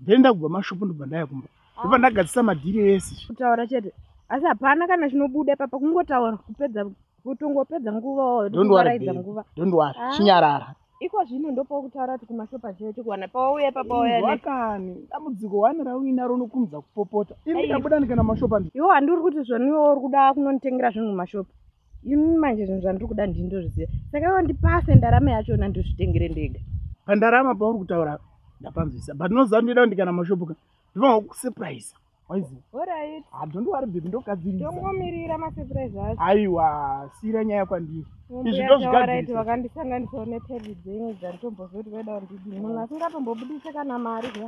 ndaenda kubva mashopo ndobva ndaya kumba ndobva ndagadzisa madhiri ese kutaura chete asi hapana kana chinobuda ipapa kungotaura kupedza kutongopedza nguva waoaraidza nguva dondoari ah. chinyarara iko zvino ndopokutaura kuti kumashopa chete chekuwana pawauya ipapa wayakani dambudziko wani rauinaro unokumudza kupopota ini ndikabuda ndikaenda mashopa iwo handi uri kuti zvoniwo uri kuda kunonditengera zvinhu mumashopa ini manje zvinhu zvandiri kuda ndini ndozviziva saka iwo ndipase ndarama yachona ndizvitengere ndega pandarama pauri kutaura ndapanzwisa but nozandida kuti kana mashopuka ndinoa kusurprise waizidondiwaribhibindokadziitongomirira masurprise acho aiwa siira nyaya kwandiri izvi ndozvigadziisa vakandisanganisa une pedi dzenyu dzanditombozoti vaida kundidi munhu asingatombobudise kana mari ka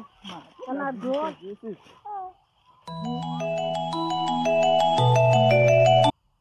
kana dhoa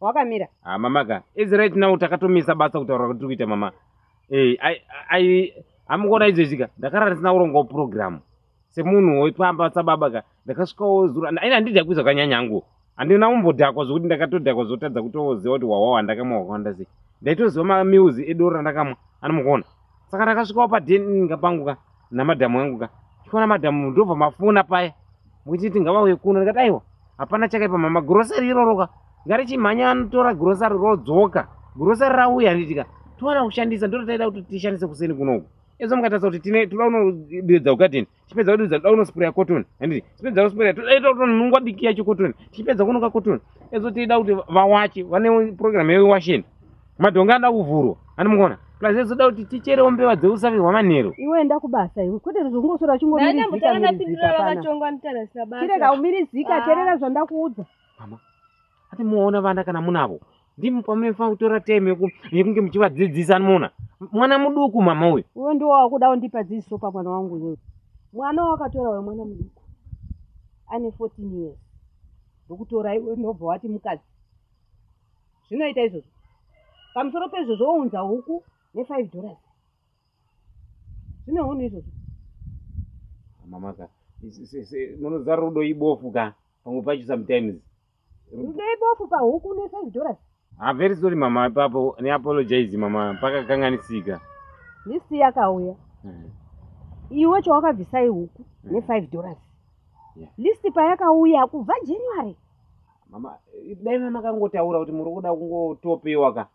wakamira ah mama ka is right now takatomisa basa kutaura kuti kuita mama eh i i amukuona izvo zvika ndakarara ndisina kuronga program semunhu wepamba sababa ka ndakasvikawo zuro aina handidya kuizwa kanyanyangu handina kumbodhakwa zvokuti ndakatodhakwa zvotadza kutoziva kuti wawawa ndakamwa wakawanda sei ndaitoziva mamiuzi edoro randakamwa anomukuona saka ndakasvikawo paden inga pangu ka namadhamu angu ka chikona madhamu ndobva mafona paya mukuti tingavauye kuno ndikati aiwa hapana chakaipa mama gurosari iroroka ngarichimhanya anotora gurosari rodzoka gurosari rauya nditika towana kushandisa ndototaida kuti tishandise kuseni kunoku ezo mukatarisa kuti tine toda unodeedza ugadeni tichipedza kuti zvakuda kunosprayer cotton handiti tichipedza kusprayer todaita kuti nunga diki yacho cotton tichipedza kunoka cotton ezo tida kuti vawache vane program yewasheni madhonga anoda kuvhurwa ani mukona plus ezoda kuti ticherewo mbeva dzeusavi hwamanheru iwe enda kubasa iwe kwete zvongosora uchingomirizikandirega umirizika terera zvandakuudza ati muona vana kana munavo ndimi pamunofanira kutora time yeku- yekunge muchivadzidzisa anoona mwana muduku mama uyu uyo ndiwo wakuda undipa dzidziso pamwana wangu uyoyo mwana wawakatora uyo mwana muduku ane 14 years ndokutora iwe ndobva wati mukadzi zvinoita izvozvo pamusoro pezvozvo wounza huku ne5 dollars zvine hunhu izvozvo mama ka se- se- se- munozara rudo ibofu ka pamwe pacho sometimes Ndeipofu pahuku ne 5 dollars. I'm very sorry mama ipapo ne apologize mama pakakanganisika. List yakauya. Hmm. Iwe chawakabvisa ihuku hmm. ne 5 dollars. Yeah. List payakauya kubva January. Mama dai mama kangotaura kuti muri kuda kungotopewa ka.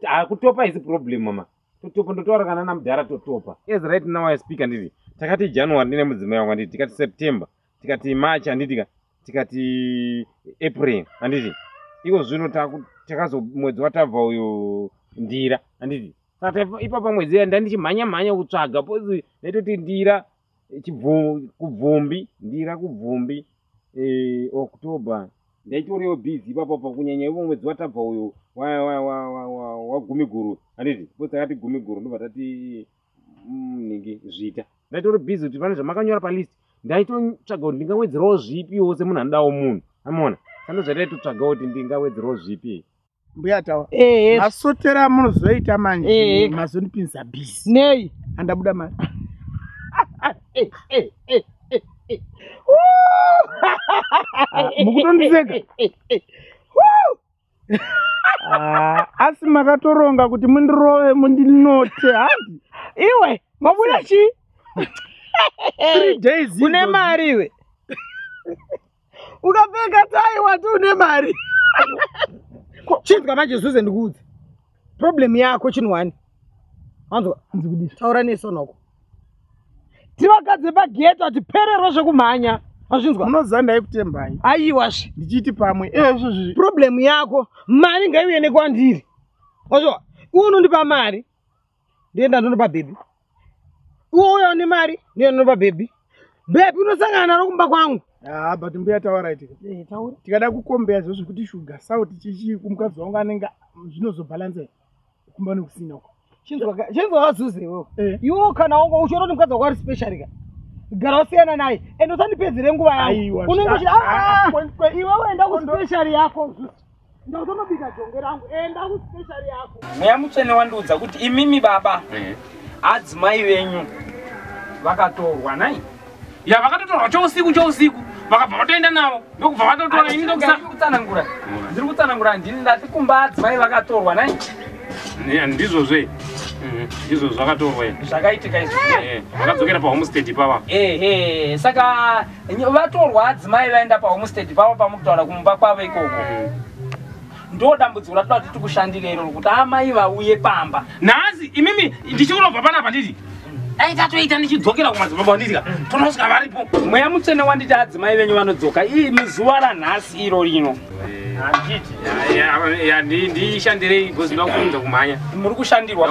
Ah kutopa is problem mama. Totopa ndotaura kana namudhara totopa. Yes right now I speak anditi takati January ndine mudzimai wangu anditi tikati September tikati march handiti ka tikati april handiti iko zvino takazo mwedzi watabva uyo ndira handiti saka ipapa mwedzi iya ndandichimhanya mhanya kutsvaga pozi ndaitoti ndira kubvumbi ndira kubvumbi eh, october ndaitoriwo busy ipapo pa kunyanya ivo mwedzi watabva uyo wagumiguru handiti po takati gumiguru ndobva tati munenge mm, zviita ndaitori busy kuti pane zvamakanyora palist ndaitotsvaga kuti ndingawedzerawo zvipiwo semunhu anodawo munhu amona sando zvataitotsvaga kuti ndingawedzerawo zvipi mbuya tawa masotera munozoita manje mazondipinza busy nei andabuda mari mukutondiseka Ah, asi makatoronga kuti mundirove mundinote handi iwe mabuda chii three days une idzo- mari iwe ukapfeka tai wati une mari chinzwa manje zuze ndikuudze problem yako chinwani anzwa Ndikudisa. taura nesonoko tivagadze pagate ati pererwa zvekumhanya azvinzwa unoziva ndaikutembai aiwasve ndichiti pamwe ezvo zvi problem yako mari ngaiuye nekwandiri ozvo unondipa mari ndienda ndondipa bhebhi uwo uya une mari ndienda ndondipa bhebhi bhebhi unosangana naro kumba kwangu haa ah, but mbuya tauraiti eh, tikada kukombeya zvo zvekuti shuga sauti chichii kumukadzi wangu anenge zvinozobhalansea kumba nekusina uko chinzwa vazuze iwewe eh. iwo kana wanga uchiona kuti mukadzi wako ari special ka gara wasiyana naye ende usandipedzere nguva yangu unenge uchida ah, ah, ah, iwe uenda kuspecial yako ndautonobika jonge rangu enda kuspecial yako mweya mutsvene wandiudza kuti imimi baba eh. adzimai venyu vakatorwa nai ya vakatotorwa chousiku chousiku vakabva vatoenda navo ndokubva vatotora ini ndokutsanangura ndiri kutsanangura handini ndati kumba adzimai vakatorwa nai ndizvo zve mhm. izvo zvakatorwa zvakaitika izvo eh, eh, vakadzokera pahomestead ipava ehe saka vatorwa adzimai vaenda pahomestead pavo pamukutaura kumba kwavo ikoko mhm. ndo dambudziko ratoda kuti tikushandire iroro kuti amai vauye pamba nhasi imimi ndichiunobva panapa nditi dai tatoita ndichidzokera kumadzimba kwandidya tonosvika varipo mweya mutsvene wanditi adzimai venyu vanodzoka ii mizuva ranhasi iro rino ndishandirei because ndoda kuunza kumhanya muri kushandirwa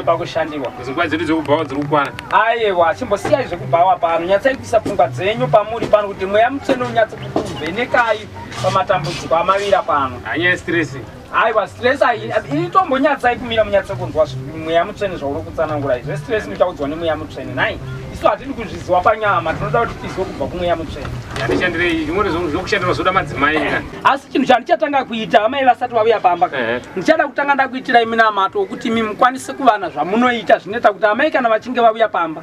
pakushandirwa nguva dzedu dzekubhawa dziri kukwana ayewa chimbosiyai zvekubhawa pano nyatsai kuisa pfungwa dzenyu pamuri pano kuti mweya mutsvene unyatse kukuvhenekai pamatambudziko amavira pano anyaya stress aiwa stress itombonyatsai kumira munyatse kunzwa mweya mutsvene zvauri kutsanangura izvo stress muchaudzwa nemweya mutsvene nai isu hatidi kuzviziwa panyama tinoda kuti tizwe kubva kumweya mutsvene andishandirei zvimweni zvokushandira zvoda madzimai asi chinhu chandichatanga kuita amai vasati vauya pamba ndichada kutanga ndakuitirai minamato wekuti imi mukwanise kuvana zvamunoita zvinoita kuti amai kana vachinge vauya pamba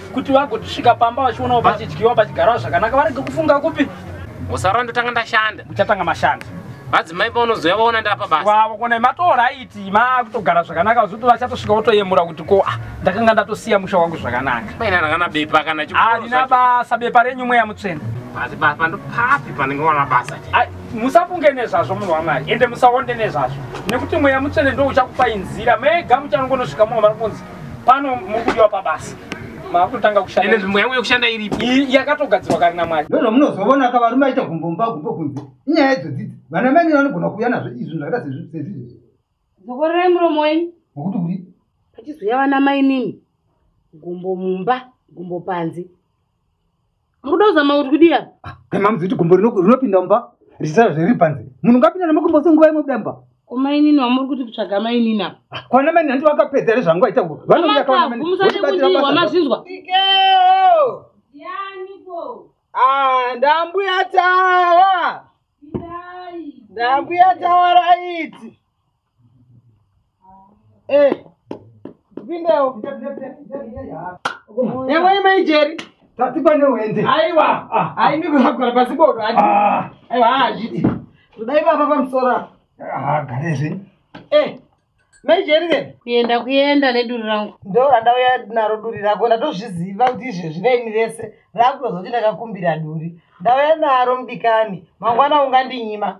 kuti vagosvika pamba vachionawo pachidyiwa pachigarawo zvakanaka varege kufunga kupi musarora ndotanga ndashanda muchatanga mashanda vadzimai paunozouya vaona ndapa basavakona matora aiti makutogara zvakanaka zoti vachatosvika votoyemura kuti ko ah, ndakanga ndatosiya musha wangu zvakanaka paina rakana bepa kana harina basa bepa renyu mweya mutsvene asi basa ndopapi panenge wana basa musafunge nezvazvo munhu wamwari ende musaonde nezvazvo nekuti mweya mutsvene ndo uchakupai nzira mega muchanongonosvika mumwe vari kunzi pano mukudiwa pabasa makutanga kushanda ende nzvimbo yangu yekushanda iripi yakatogadzirwa kare namwari ndozvo munozovona ka varume aita gumbo mumba gumbo kunze inyaya idzo dzidzi vana mai nini vanogona kuuya nazvo izvi zvakaita sezvizvezvi zokorerai muromo wenyu nokuti kuri pachizouya vana mai nini gumbo mumba gumbo panze Mukuda kuzama kuti kudii apa? Ah, kai mamuzi kuti gumbo rinopinda mumba richisara zviri panze. Munhu ngapinda nemugumbo senguva imwe kuda mumba. Komainini wamuri kuti kutsvaga mainini apa? Ah, kwana mainini hanti vakapedza here zvangu aita kuva. Vanomuya kawana mainini. Mumusade kudii wamazvinzwa? Ikeo! Yaniko? Ah, ndambuya tawa. Ndambuya tawa raiti. Eh. Pindewo. Yamwe ima ijeri. Tati pane wende. Aiwa. Aimi kuzagara pasi bodo. Ah. Aiwa hazviti. Ah, Kudai baba pamusoro. Ah, gare zve. Eh. Maijeri then. Kuenda kuenda neduri rangu. Ndo randauya naro duri rako ndatozviziva kuti izvezvi raini rese rakutozoti ndakakumbira duri. Ndauya naro mudikani. Mangwana ungandinyima.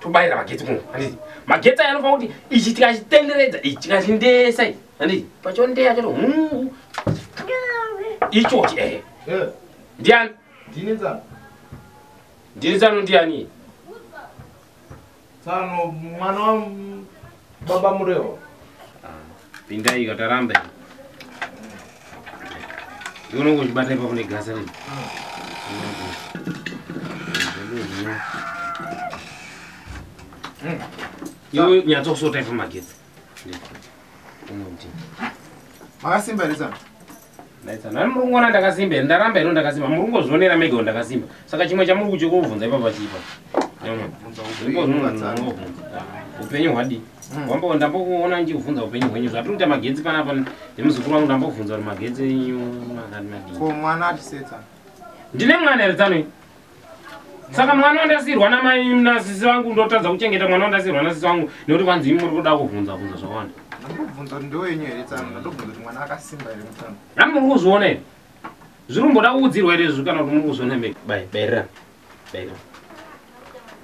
tobayira magetsi kuno handiti magetsi aya anofanira kuti ichi tikachitenderedza ichi tikachindesa ichi handiti pachondeya chato hungu ichochi ehe eh. ndiani ndini tsano ndini tsano ndiani tsano mwana wa Baba Murehwa. Pindai kataramba ini. Unongo uchibata ipapo negasa rino. Iwe nyatsa kusota ipa magetsi. Makasimbirisa. Naita nani muri kungona ndakasimba here ndaramba here ndakasimba muri kungozvionera mega wo ndakasimba saka chimwe chamuri kutyo kuvhunza ipapa chipa upenyu hwadii wambo ndambokuona ndichikuvhunza upenyu hwenyu zvatiri kuita magetsi panapa nemuzukuru wangu ndambokuvhunza kuti magetsi enyu makati madii ko mwana atisetsa ndine mwana here tsanoi saka mwana wandasirwa namai nasisi vangu ndotadza kuchengeta mwana wandasirwa nasisi vangu nekuti vanzi imi muri kuda kuvhunza vhunza zvakawanda ndobvunza kuti ndowenyu here tsano ndobvunza kuti mwana akasimba here mutsano a muri kuzviona here zviri kumboda kuudzirwa here zvi kana kuti muri kuzviona me bairira bairira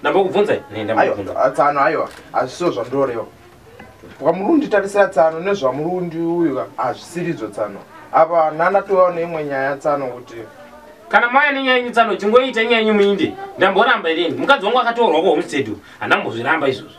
ndambokubvunzai aiwa tsano aiwa hazvisiwo zvandoreva kwamurundi tarisira tsano nezvamurundi uyu hazvisiridzo tsano apa nana tovawo neimwe nyaya tsano kuti kana maya nenyaya yenyu tsano chingoita nyaya yenyu muinde ndamboramba irini mukadzi wangu akatorwa kuhomestead handambozviramba izvozvo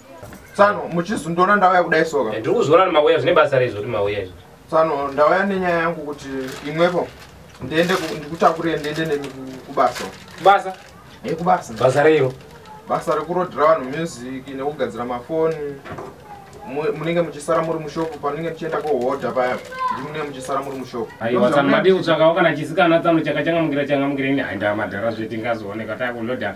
Tsano muchizundona ndauya kudai soka. Eh, ndiri kuzoona ni mauya zvine basa reizvo ri mauya izvo. Tsano ndauya nenyaya yangu kuti imwepo ndiende ndikutakurire ndiende nemi kubasa. Kubasa? Eh kubasa. Basa reiro. Basa rekurodhera vanhu music nekugadzira mafoni munenge muchisara muri mushopu panenge muchienda kohodha paya ndimunenge muchisara muri mushopu aiwasamadi kutsvakawo kana chisikana tsano chakachangamukira changamukira ini haindaa madhara zvetingazooneka takuloda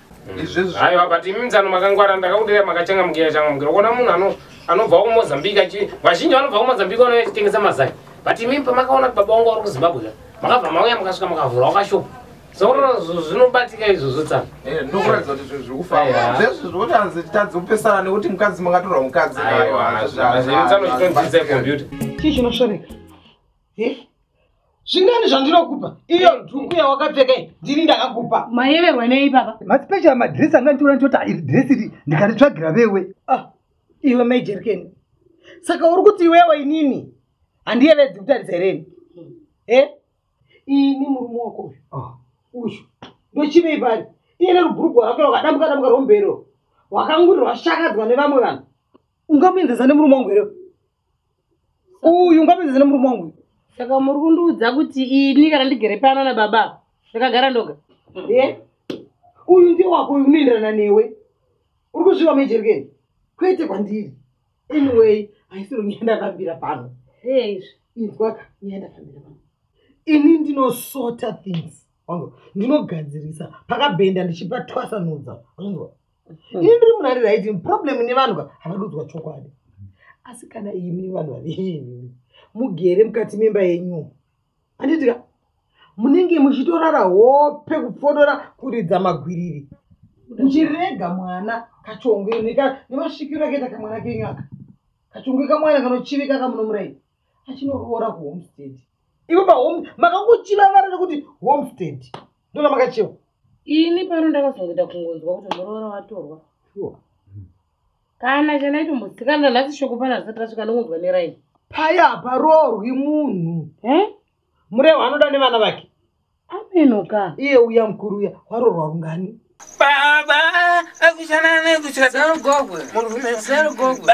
izvezvi aiwa but imi mzano makangwara ndakakudira makachangamukira changamukira kuona munhu ano anobva kumozambique achi vazhinji vanobva kumozambique vanouya achitengesa mazai but imi pamakaona kuti baba wangu vari kuzimbabwe ka makabva mauya makasvika makavhura wakashopa saka zvinobatika izvozvo tsana Eh, ndokuratidza kuti zvinhu zviri kufamba Aiwa. zvezvi zvekuti hanzi titadze kupesana nekuti mukadzi makatorwa mukadzi aiwa hazviri tsano zvitonzidza computer chii chinosvoreka Eh? zvingani zvandinokupa iyo dhuku yawakapfeka ndini ndakakupa mayeverwa nei baba maspecial madress anga nditora nditoti iri dress iri ndikaritsvagira vewe ah, iwe majerikeni saka uri kuti iwewe inini handiyevedzi kutarisa hereni e eh? ini murume wako uyu ah. uyu ndochivei pari iye nerubhurugwa rake rwakadambuka dambuka rwombero rwakanguri rwashakadzwa nevamwe vanhu ungamuenzesa nemurume wangu here uyu ngapedze zina murume wangu saka muri kundiudza kuti ini kana ndigere pano na baba ndakagara ndoga e uyu ndi wako uyu unoenderana newe uri kuzviwa mejerikeni kwete kwandiri anyway haisiro nyaya ndakambira pano eizvi inzwaka nyaya ndakambira pano ini ndinosota things ndinogadzirisa pakabhenda ndichipa twasanudza anzwa Hmm. ini ndiri munhu ari right problem nevanhu ka havadudzwa chokwadi asi kana imi vanhu vaveimi mugere mukati memba yenyu handiti ka munenge muchitorara hope kupfodora kuridza magwiriri muchirega mwana kachongwe nemasvikiro akaita kamwana kenyu aka kachongwe kamwana kanochivika kamunomurai achinoroora kuhomestead ivo pahome makakuchiva vara rekuti homestead ndona makachiva ini pano ndakazongoita kungonzwa kuti muroora watorwa sure. Hmm. kana chanaito musikana nhasi shoko pana zvisati rasvika nongonzwa neraini paya haparoorwi munhu eh? murehu anoda nevana vake amenoka iye uya mukuru uya waroorwa rungani baba akuchanana kuchadagogwe murumesarugogwe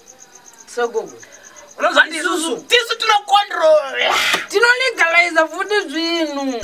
so gogo unonzwa ndisusu tisu tinocontrola tinolegaliza futi zvinhu